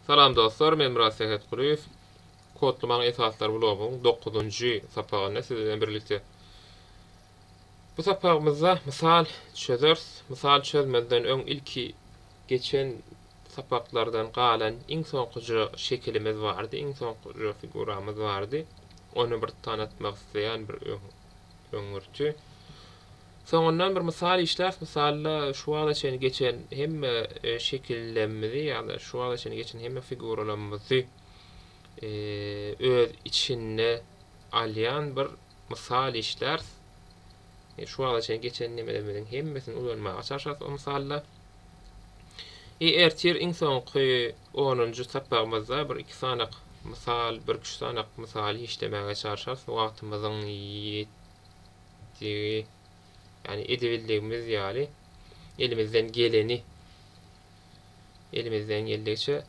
Salam dostlar men Myrat Sähetgulyýew Kodlamaň esaslary blogyň dokuzynjy sapagynda siz bilen birlikde. Bu sapagymyzda mysal çözeris. Mysal çözmezden öň ilki geçen sapaklardan galan iň soňkuja şekilimiz bardy, iň soňkuja figuramyz bardy. Ony bir tanatmak isleýän bir öňürti. Soňundan bir mysal işläris, mysalda şu wagta çenli geçen hemme şekillerimizi ýa-da şu wagta çenli geçen hemme figuralarymyzy öz içinde alýan bir mysal işläris. Şu wagta çenli geçen nemelerimiziň hemmesini ulanmaga çalşarys o mysalda. E ertir iň soňky onunjy sapagymyzda bir iki sanak mysal, birküç sanak mysal işlemäge çalşarys wagtymyzyň Digi, ýani edibildigimiz ýaly, elimizden geleni, elimizden geldigiçe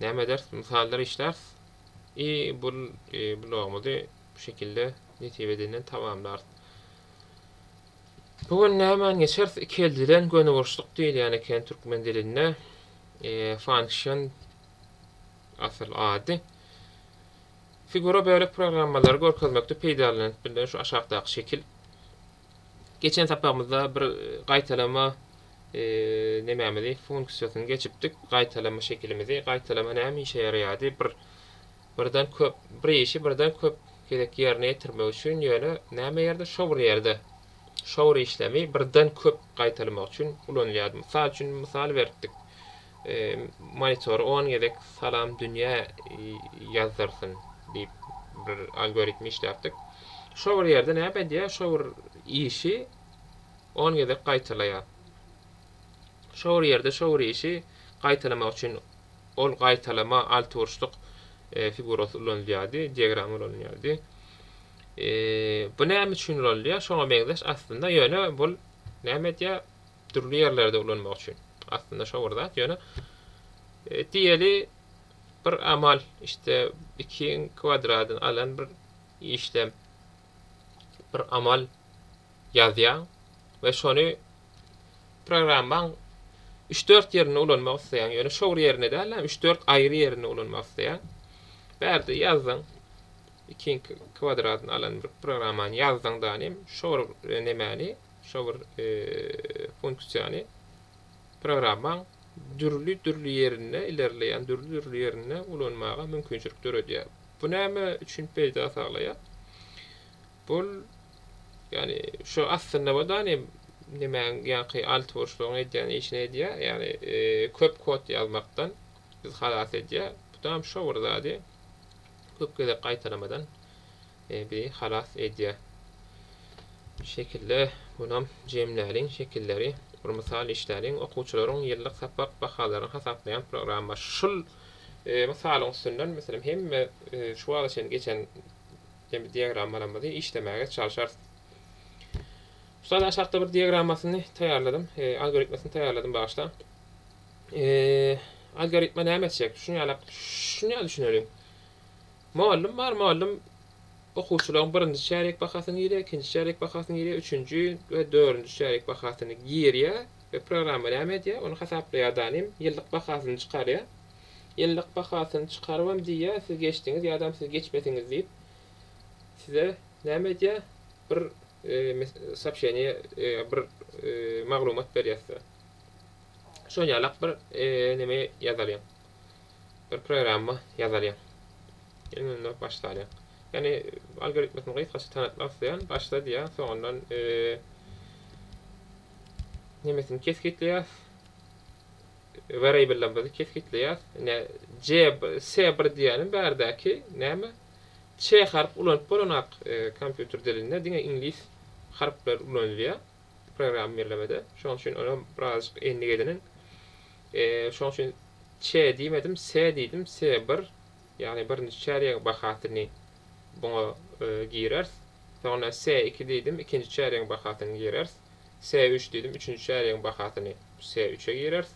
näme ederis? Mysallar işläris. I bul blogumyzy bu şekilde nesip edenden tamamlarys. Bu gün nämäni geçeris? Ikeldilen göniburçluk diýilýän eken türkmen dilinde. Function asyl ady. Figura bölek programmalary görkezmekde peýdalanyp bilner, şu aşakdaky şekil. Geçen sapagymyzda bir gaýtalama e, nemämizi funksiýasyny geçipdik, gaýtalama şekilimizi. Gaýtalama näme işe ýaraýardy? Bir birden köp bir işi birden köp gezek ýerine ýetirmek üçin ýöne näme ýerde şo bir ýerde şo bir işlemi birden köp gaýtalmak üçin ulanylýardy. Mysal üçin misal beripdik. Monitor on gezek Salam dünýä ýazdyrsyn diýip bir algoritm işläpdik. Şo bir ýerde näme edýär, şo bir işi on gezek gaýtalaýar. Şo bir ýerde şo bir işi gaýtalamak üçin ol gaýtalama altyburçluk figurasy ulanylýardy, diagram ulanylýardy. Bu näme üçin ulanylýar? Şoňa meňzeş aslynda, ýöne bul näme edýär? dürli ýerlerde ulanmak üçin. Aslynda şo bir zat, ýöne e, diýeli bir amal işte ikiň kwadradyny alan bir işlem bir amal ýazýaň we şony programmaň 3-4 ýerinde ulanmak isleýäň. Ýöne şo bir ýerinde däl, 3-4 aýry ýerinde ulanmak isleýäň. Bärde ýazdyň. Ikiň kwadradyny alan bir programmany ýazdyň danym, şo bir e, nemäni Şo bir funksiýany programmaň dürli-dürli ýerinde, ilerleýän dürli-dürli ýerinde ulanmaga mümkinçilik döredýär. Bu näme üçin peýda saglaýar? Bul, ýagny şu aslynda bu dani nimäň ýaňky alty burçlugyň edýän işini edýär, ýagny köp kod ýazmakdan bizi halas edýär. Bu dam şo bir zady köp gezek gaýtalamadan Ebi halas edýär. Bu şekilde munam jemläliň şekilleri bir mysal işläliň. Okuwçylaryň ýyllyk sapak bahalaryny hasaplaýan program bar. Şul mysalyň üstünden meselem hemme şu wagta çenli geçen diagrammalarymyzy işlemäge çalşarys. Mysal aşakda bir diagrammasyny taýýarladym. Algoritmasyny taýýarladym bagyşlaň. Algoritma näme etjek? Şuny ýalak, şuny ýaly düşüneliň. Mugallym bar, mugallym okuwçylaryň birinji çärýek bahasyny girýär, ikinji çärýek bahasyny girýär, üçünji we dördünji çärýek bahasyny girýär we programma näme edýär, ony hasaplaýar danem, ýyllyk bahasyny çykarýar. Ýyllyk bahasyny çykarybam diýýär, siz geçdiňiz ýadam siz geçmediňiz diýip, size näme edýär, bir sopşeniýe, bir maglumat berýär size. Şoňýalak bir neme ýazalyň. bir programma ýazalýaň. Ýene-de durup başlarýaň. Ýani algoritmini gysgaça tanatmak isleýän, başla diýýän, soňundan nemesini kesgitleýäs. Variable'imizi kesgitleýäs. Ine C S1 diýýänim bärdäki näme? Ç harp ulanyp bolanok kompýuter dilinde, diňe iňlis harplar ulanylýar. programma bellemede. Şonuň üçin olam birazjyk endik ediniň. E, şonuň üçin ç diýmedim, se diýdim, se bir. Ýagny birinji çärýegiň bahasyny buňa e, gireris. Soňra se iki diýdim, ikinji çärýegiň bahasyny gireris. Se üç diýdim, üçünji çärýegiň bahasyny se üçe gireris.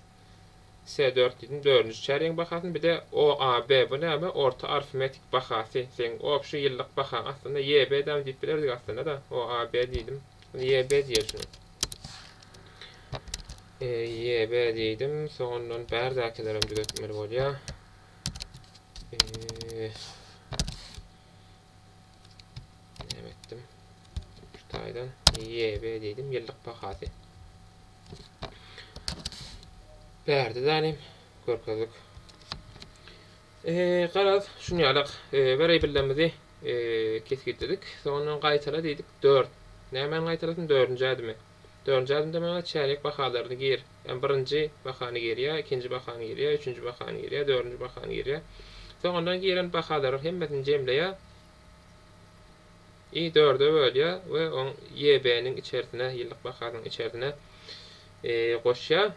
S dört diýdim dördünji çärýegiň bahasyny bide OAB bu näme orta arfmetik bahasy seň obşi ýyllyk bahaň aslynda YB dam diýip bilerdik aslynda da OAB diýdim indi YB diýer şuny YB diýdim soňundan bärdäkilerem düzetmeli bolýa Näme etdim? Şu taýdan YB diýdim, ýyllyk bahasy. Berdi zanim görkezdik. Eee, garaz, şuny ýalak, eee, bir eýbillemizi, eee, kesgitledik. Soňundan gaýtala diýdik, dört. Nämäni gaýtalasyn, dördünji ädimi. Dördünji ädimde maňa çäýnek bahalaryny gir, ýa birinji bahany gir, ýa ikinji bahany gir, ýa üçünji bahany gir, ýa dördünji bahany gir, ýa. Soňundan giren bahalary hemmesini jemleýär. I dörde bölýär we oň YB-niň içerisine, ýyllyk bahasynyň içerisine goşýar.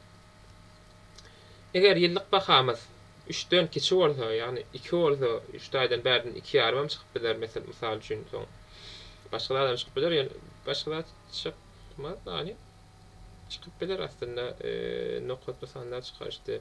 Eger ýyllyk bahamyz üçden kiçi bolsa, ýagny iki bolsa, üç taýdan bärden iki ýarym hem çykyp biler, mesel mysal üçin, soň başga zadam çykyp biler, ýöne başga zat çykmaz, ýagny çykyp biler aslynda, nokatly sanlar çykaryşdy.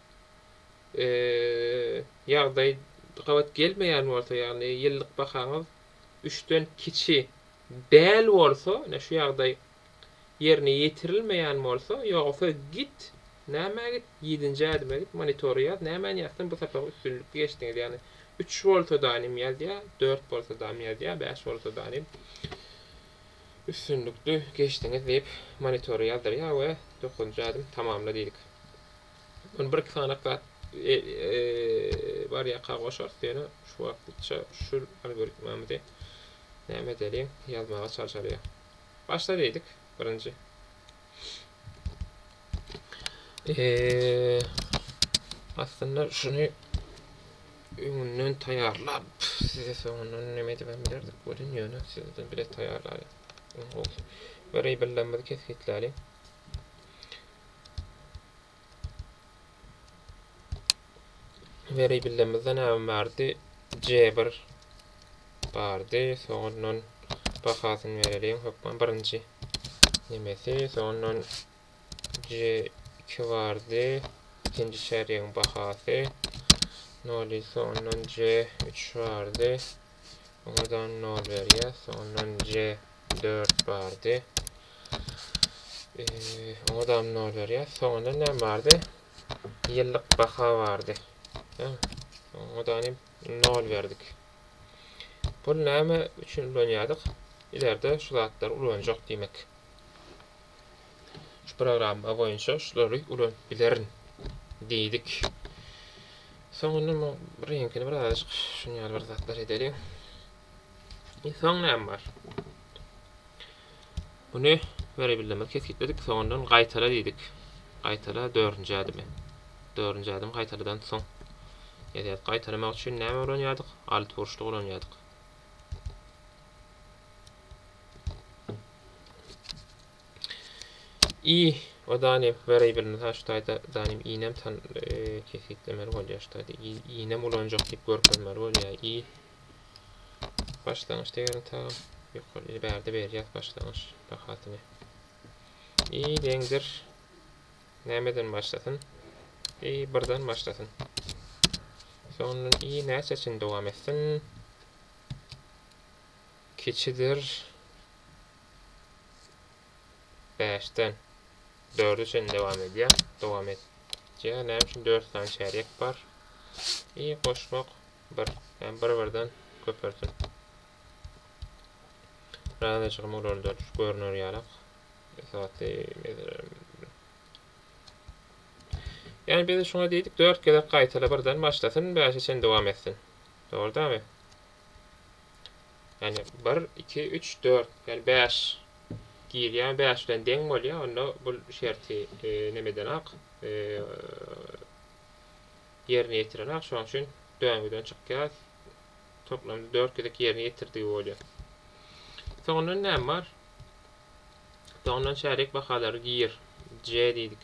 ýagdaý gabat gelmeýän bolsa, ýagny ýyllyk bahaňyz üçden kiçi däl bolsa, ine şu ýagdaý ýerine ýetirilmeýän bolsa, ýogsa git, nämä git, ýedinji ädime git, monitory ýaz, nämäni ýazsaň bu sapagy üstünlikli geçdiňiz, ýagny üç bolsa danym ýazýa, dört bolsa dam ýazýa, bäş bolsa danym üstünlikli geçdiňiz diýip monitory ýazdyrýa we dokuzynjy ädim tamamla diýdik. Ony bir-iki sanak zat bar ýaka goşarys ýöne şu wagtlyça şu algoritmamyzy näme edeliň ýazmaga çalşalyň. Başla diýdik birinji. Eee aslynda şuny öňünden taýýarlap size soňundan näme edip bilerdik welin ýöne sizden bile taýýarlalyň. Öň gowsy. Wariable'larymyzy kesgitläliň. Weriýbilimizde näme bardy? C1 bardy. Soňundan bahasyny bereliň. Hökman birinji nemesi. Soňundan C2 bardy. İkinci çärýegiň bahasy. Noli soňundan C3 bardy. Oňadan nol berýär. Soňundan J dört bardy. Oňadam nol berýär. Soňunda näme bardy? Ýyllyk baha bardy. Oňadan hem nol berdik. Pul näme üçin ulanýardyk? Ilerde şu zatlary ulanjak diýmek. Şu programma boýunça şulary ulanyp bilerin diýdik. Soň indi bu reňkini birazajyk şuny ýaly bir zatlar edeliň. E, soň näme bar? Muny beribildimiz kesgitledik. Soňundan gaýtala diýdik. Gaýtala dördünji ädimi. Dördünji ädim gaýtaladan soň. Edýär. Gaýtalamak üçin näme ulanýardyk? Alt burçluk ulanýardyk. I we Daniýew wariable mysal şu taýda Daniýew inem tan kesgitlemeli bolýar şu taýda inem ulanjak diýip görkezmeli bolýar i başlangyç degeriň tagam ýokary bärde berýär başlangyç bahasyny i deňdir nämeden başlasyn i birden başlasyn soňundan i näçe üçin dowam etsin kiçidir Bäşden dörde çenli dowam edýär. Dowam et. Diýär, näme üçin 4 sany çärýek bar? I goşmak 1, ýa bir-birden köpelsin. Razyjygym olarda düş görner ýalak. Esasy meselem. Ýani biz şuňa diýdik 4 gezek gaýtala birden başlasyn, 5-e çenli dowam etsin. Dogry dämi? Ýagny bir, iki, üç, dört, ýagny bäş girýär, bäş bilen deň bolýar, onda bul şerti nimedenak, ýerine ýetirenak, şonuň üçin döngüden çykýar, toplamda dört gezek ýerine ýetirdigi bolýar. Soňundan näme bar? Soňundan çärýek bahalary gir, C diýdik.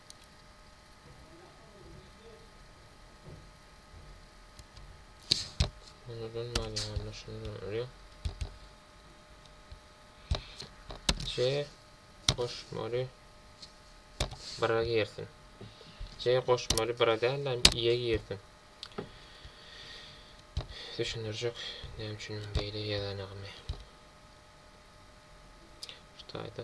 Bundan manyýany şundan görýär. C goşmaly bira girsin. C goşmaly bira däl, hem iýe girsin. Düşündirjek, näme üçin beýle ýazanagymy. Şu taýda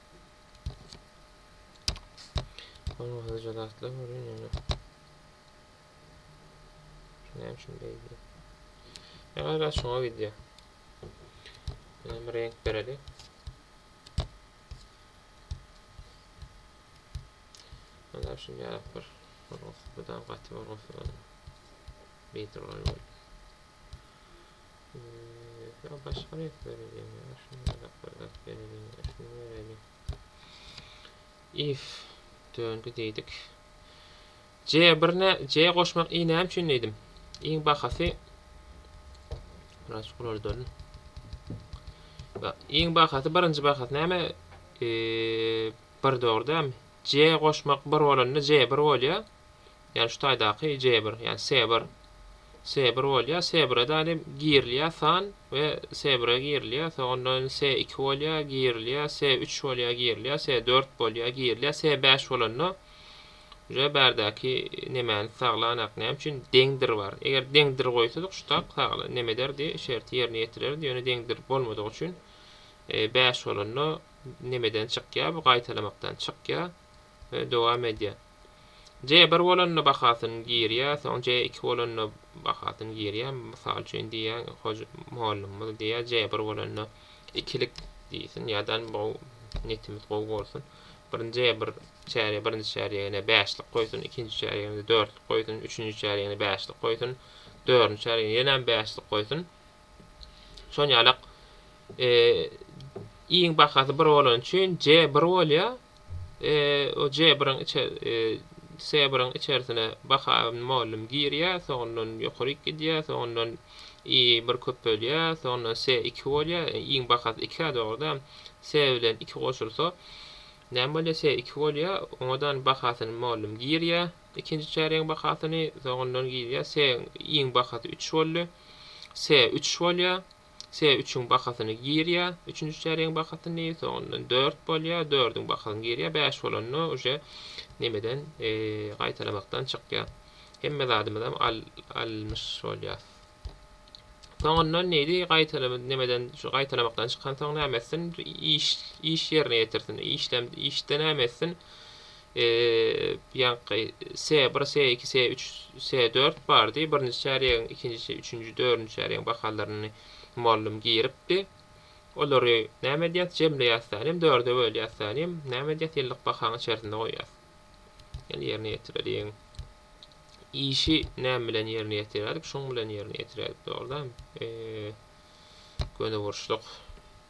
Onuň hyja zatlar görýän ýöne. Näme üçin beýdi? Ne gaýry açyňa wideo. Ýöne bir renk bereli. Ana şunday ýarak bir. Olsa bu da gaty bir olsa. Beýdi olar. Ýa başga rek bereliň ýa şunda dakyldak bereliň ýa şuny bereliň. If döndi diýdik. C bir ne C goşmak i näme üçin diýdim. Iň bahasy Biraz şular dönün. Iň bahasy birinji bahasy näme? Eee bir dogry dämi? C goşmak bir bolanda C bir bolýar. Ýani şu taýdaky jebr, ýani sebr, sebr bolýar, sebre danem girilýär san we sebre girilýär, soň ondan se iki bolýar, girilýär, se üç bolýar, girilýär, se dört bolýar, girilýär, se bäş bolanda uje bärdäki nemäni saglanak, näme üçin deňdir bar. Eger deňdir goýsadyk şu tak sagla neme ederdi, şerti ýerine ýetirerdi, ýöne deňdir bolmadygy üçin bäş bolanda nemeden çykýar, bu gaýtalamakdan çykýar. we dowam edýär. J bir bolanda bahasyny girýär, soň J iki bolanda bahasyny girýär. Mysal üçin diýýär, hoja mugallymymyz diýýär, J bir bolanda ikilik diýsin, ýadan bu netimiz gowy bolsun. Birinji J bir çärýe, birinji çärýegine bäşlik goýsun, ikinji çärýegine dörtlik goýsun, üçünji çärýegine bäşlik goýsun, dördünji çärýegine ýenem bäşlik goýsun. Şonýalak, e iň bahasy bir bolany üçin J bir bolýar, O Jebryň içe Sebryň içersine Bahaýyň mugallym girýä, soňundan ýokaryk gidýä, soňundan I bir köpelýä, soňundan Se iki bolýa, iň bahasy iki-ä dogry-da, Se bilen iki goşulsa, näme bolýa, Se iki bolýa, oňadan bahasyny mugallym girýä, ikinji çärýegiň bahasyny, soňundan girýä, Se iň bahasy üç boldy, Se üç bolýa. Se üçüň bakasyny girýä, üçünji çärýegiň bakasyny, soňundan dört bolýa, dördüň bakasyny girýä, bäş bolanda uje nemeden gaýtalamakdan çykýa. Hemme zadymyzam al almyş bolýas. Soňundan neýdi? Gaýtalamy nemeden şu gaýtalamakdan çykansoň näme etsin? Iş iş ýerine ýetirsin. Işlem işde näme etsin? ýaňky S-bir, S-iki, S-üç, S-dört bardy. Birinji çärýegiň ikinji, üçünji, dördünji çärýegiň bahalaryny mugallym giripdi. Olary näme edýäs? Jemleýäs sähelem, dörde bölýäs sähelem, näme edýäs? Ýyllyk bahaň içerisinde goýýas. Ýaly ýerine ýetireliň. Işi näme bilen ýerine ýetiräýdik? Şuň bilen ýerine ýetiräýdik, dogrudanmy? Göni burçluk.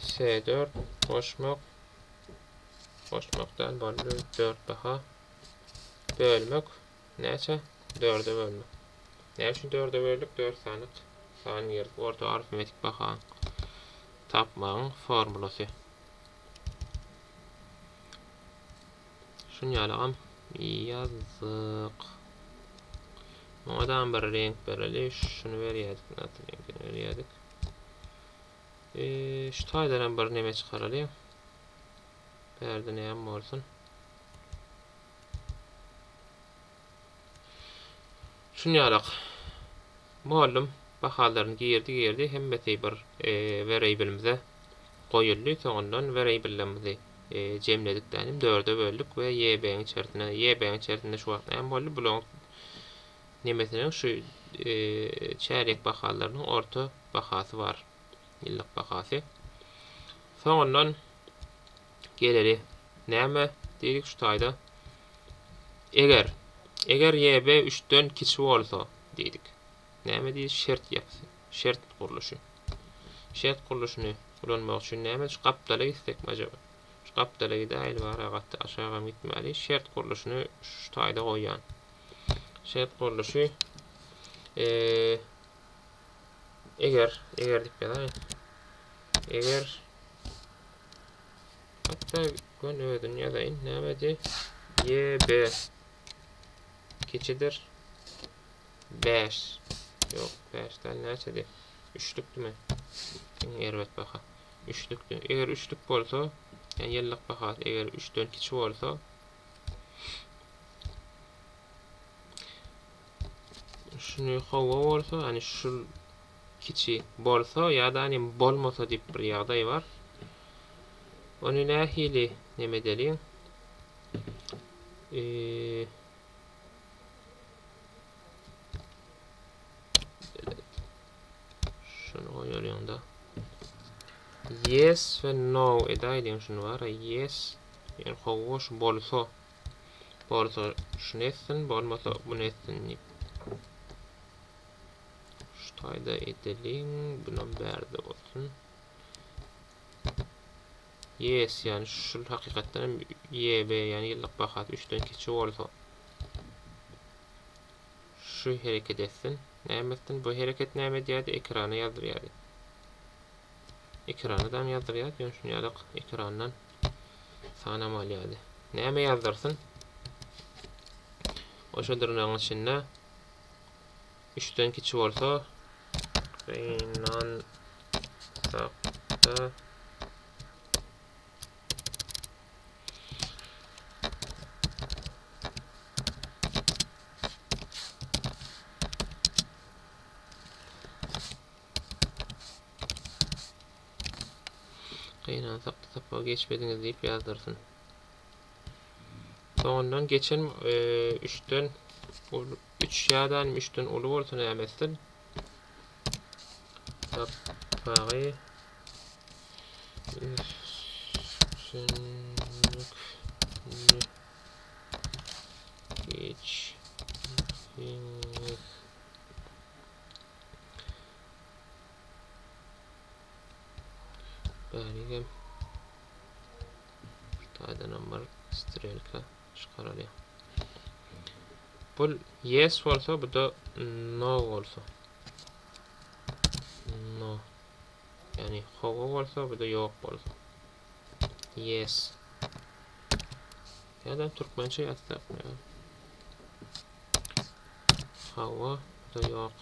Se dört goşmak goşmak däl boldy dört baha bölmek näçe dörde bölmek näme üçin dörde böldük dört sany sany girdik orta arifmetik baha tapmagyň formulasy şuny ýalagam ýazdyk Muňa da bir renk bereli. Şuny berýärdik. Nätdi reňkini berýärdik. Eee şu taýdanam bir neme çykaralyň. Bärde näme bolsun. Şun ýalak. Muallym bahalaryny girdi girdi hemmesi bir eee wereýbilimize goýuldy. Soňundan wereýbillerimizi eee jemledik dänim dörde böldük we YB-iň içersine YB-iň içersinde şu wagt näme boldy bulaň Nemesiniň şu çärýek bahalarynyň orta bahasy bar, ýyllyk bahasy. Soňundan geleri näme diýdik şu taýda? Eger, eger YB üçden kiçi bolsa diýdik. Näme diýdik? Şert ýapysy, şert gurluşy. Şert gurluşyny ulanmak üçin näme şu gapdala gitsekmi ajaba? Şu gapdala gidäýeli bara gaty aşagam gitmäli. Şert gurluşyny şu taýda goýýan. Şert gurluşy eger eger diýip ýazaýyn. Eger hatda gün özüni ýazaýyn. Nämedi? YB kiçidir 5. Ýok, 5 däl näçedi? Üçlükdimi? Iň erbet baha. Üçlükdi. Eger üçlük bolsa, ýyllyk bahasy eger 3-den kiçi bolsa, Şuny hawa bolsa, yani şu kiçi bolsa ýa-da hani bolmasa diýip bir ýagdaý bar. Ony nähili neme edeliň? Eee Şunu goýarýaň da. Yes we no edäýdiň şunu bara. Yes. Ýöne hawa şu bolsa. Bolsa şunu etsin, bolmasa bunu etsin diýip. Şu taýda edeliň. Bunam bärde bolsun. Ýes ýany şul hakykatdan hem YB ýany ýyllyk bahasy üçden kiçi bolsa şu hereket etsin. Näme etsin? Bu hereket näme edýärdi? Ekrana ýazdyrýardy. Ekrana dam ýazdyrýardy. Ýöne şunu ýalyk ekrandan sanam alýardy. Näme ýazdyrsyn? Oşa dyrnagyň içinde Üçden kiçi bolsa gynansakda gynansakda sapagy geçmediňiz diýip ýazdyrsyn. Soňundan geçen 3-den e, Üç şädanym üçden uly bolsa näme etsin? Sapagy üstünlikli geçiriňiz. Bäri gel. Taýdanam bar, strelka. çykarylýar. Bu yes bolsa, bu da no bolsa. No. Ýani howa bolsa, bu da ýok bolsa. Yes. Ya da türkmençe ýazsak. Hawa da ýok.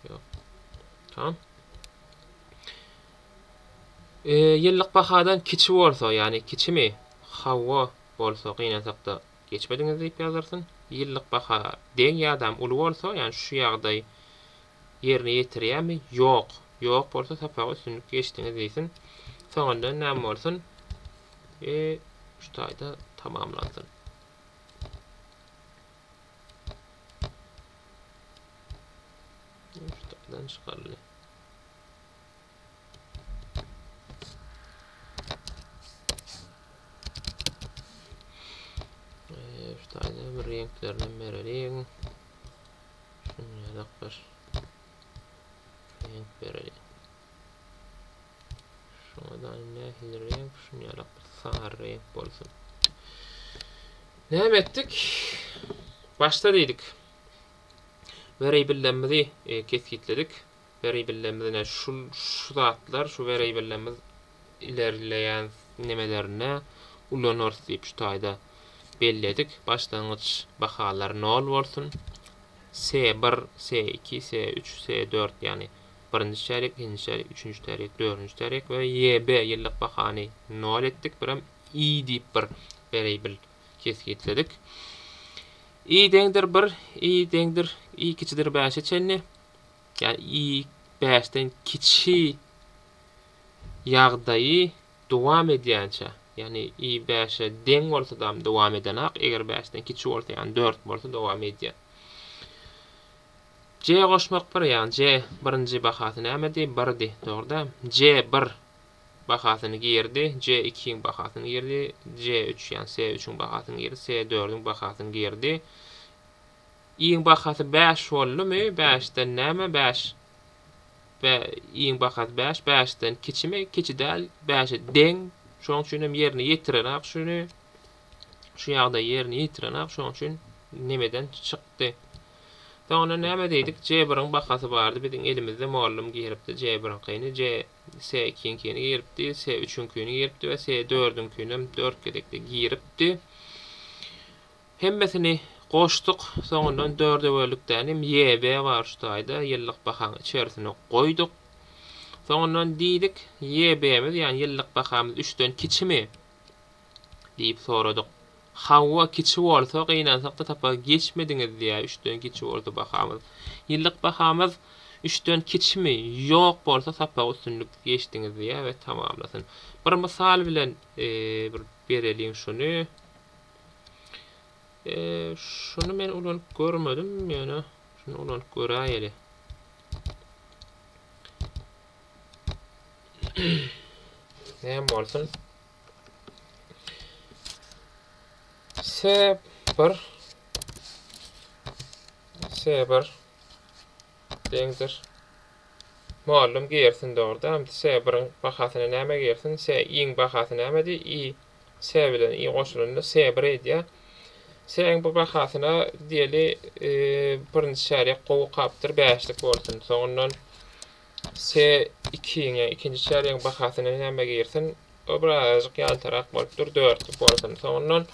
Ýok. Tamam. Ýyllyk bahadan kiçi bolsa, ýagny kiçimi? Hawa, bolsa gynansakda geçmediňiz diýip ýazyrsyn. Ýyllyk baha deň ýadam uly bolsa, ýagny şu ýagdaý ýerine ýetirýärmi? Ýok. Ýok bolsa sapagy üstünlikli geçdiňiz diýsin. Soňundan näme bolsun? We şu taýda tamamlansyn. Şu taýdan çykarly. reňklerini bereliň. Şunu ýadak bir reňk bereliň. Şuna da nähili reňk, şunu ýadak bir sary reňk bolsun. Näme etdik? Başda diýdik. Variablelerimizi e, kesgitledik. weraýbellerimiz-ine şul, şu zatlar, şu weraýbellerimiz ilerleýän nemelerine ulanarys diýip şu taýda belledik. Başlangyç bahalar nol bolsun. Se bir, se iki, se üç, se dört, ýagny birinji çärýek, ikinji çärýek, üçünji çärýek, dördünji çärýek we YB, ýyllyk bahany nol etdik. Birem I diýip bir weraýbel kesgitledik. I deňdir bir, I deňdir, I kiçidir bäşe çenli. ýa-ni i bäşden kiçi ýagdaýy dowam edýänçä, ýa-ni i bäşe deň bolsadam dowam edenok, eger bäşden kiçi bolsa, ýa-ni dört bolsa dowam edýär. J goşmak bir, ýa-ni J birinji bahasy nämedi? Birdi, dogry-da. J bir bahasyny girdi, J ikiň bahasyny girdi, J üç, ýa-ni S üçiň bahasyny girdi, S dördüň bahasyny girdi. Iň bahasy bäş boldumy bäşden näme bäş bä iň bahasy bäş bäşden kiçimi kiçi däl bäşe deň şoň üçinem ýerine ýetirenak şuny şu ýagdaý ýerine ýetirenak şoň üçin nemeden çykdy soňra näme diýdik c biriň bahasy bardy biziň elimizde mollum giripdi c biriňkini c s ikiňkini giripdi s üçüňkini giripdi we s dördüňkinem dört gezekde giripdi Hemmesini goşduk, soňundan dördöwelikdänem YB bar şu taýda, ýyllyk bahaň içerisine goýduk. Soňundan diýdik, YB-miz, ýagny ýyllyk bahamyz üçden kiçimi? diýip soradyk. Hawa, kiçi bolsa, gynansak-da tapar geçmediňiz diýýär, üçden kiçi bolsa bahamyz. Ýyllyk bahamyz üçden kiçimi? Ýok bolsa sapagy üstünlikli geçdiňiz diýýär we tamamlasyn. Bir mysal bilen bir bereliň şuny. Şuny men ulanyp görmedim, ýöne şuny ulanyp göräýeli. Näme bolsun? Sep bir sebir deňdir. Muallym girsin dogruda. Sebiriň bahasyna näme girsin? Se iň bahasy näme di? I Sä bilen i goşulanda sä bir edýär. Säň bu bahasyna diýeli birinji çärýek gowy kapdyr bäşlik bolsun. Soňundan sä ikiň ýa ikinji çärýegiň bahasyna näme girsin? O bir azajyk ýaltarak bolup dur dörtlik bolsun. Soňundan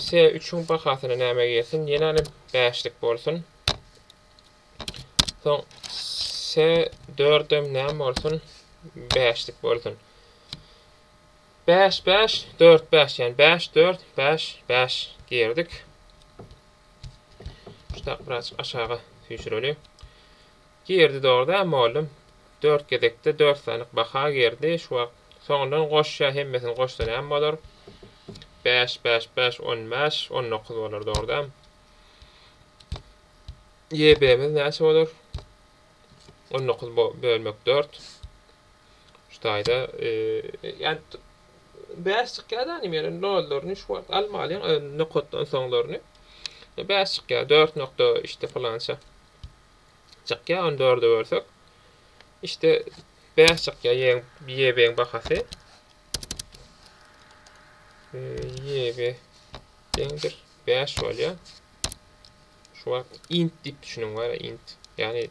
sä üçüň bahasyna näme girsin? Ýenänem bäşlik bolsun. Soň sä dördem näme bolsun? Bäşlik bolsun. Bäş, bäş, dört, bäş, ýagny bäş, dört, bäş, bäş diýerdik. Şutak birazjyk aşaga süýşüreli. Girdi dogry-da, mugallym dört gezekde dört sanyk baha girdi. Şu wagt soňundan goşýar, hemmesini goşsa näme bolar? Bäş, bäş, bäş, on bäş, on dokuz bolar dogry-da. YB-miz näçe bolar? On dokuz bölmek dört. Şu taýda ýan bäş çykýar da nim ýeri nollaryny şu wagt almalyň nokatdan soňlaryny. Bäş çykýar 4 nokta işte falança. Çykýar 14-e bölsek. İşte 5 çykýar ýeň ýebeň bahasy. Ýebe deňdir 5 bolýar. Şu wagt int diýip düşünüň bar int. Ýani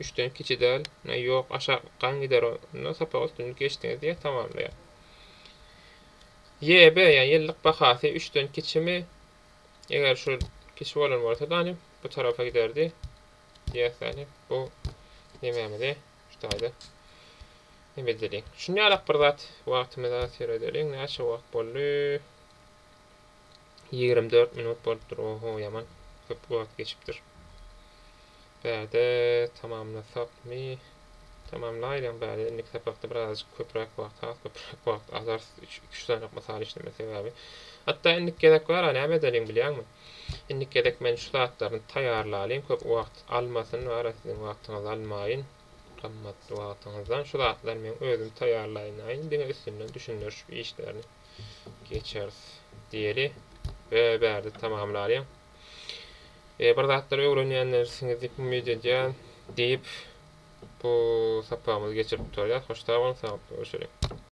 Üçden kiçi däl. Näý ýok aşaklykdan gider ol. Onda sapak üstünlik geçdiňiz diýýär tamamlaýar. YB ýa ýyllyk bahasy üçden kiçimi eger şu kiçi bolan bolsa dany bu tarapa giderdi diýýäs dany bu nemämizi şu taýda neme edeliň. Şuny ýalak bir zat wagtymyzy az seredeliň näçe wagt boldy. Ýigrimi dört minut bolupdyr. Oho, ýaman köp wagt geçipdir. Bärde tamamlasakmy? Tamamlaýlaň bärde. Indiki sapakda birazajyk köpräk wagt, has köpräk wagt alarys. Üç, iki-üç sanyk mysal işlemek sebäbi. Hatda indiki gezek bar-a, näme edeliň bilýäňmi? Indiki gezek men şu zatlaryny taýýarlalyň, köp wagt almasyn, bar-a, siziň wagtyňyzy almaýyn. Gymmatly wagtyňyzdan şu zatlary men özüm taýýarlaýynlaýyn, diňe üstünden düşündirişip işlerini. Geçeris diýeli. Be bärde tamamlalyň. E, bir zatlar öwrenýänlersiňiz diýip umyt edýän diýip bu sapagymyzy geçirip gutarýas. Hoş sag boluň, saglyk görüşeliň.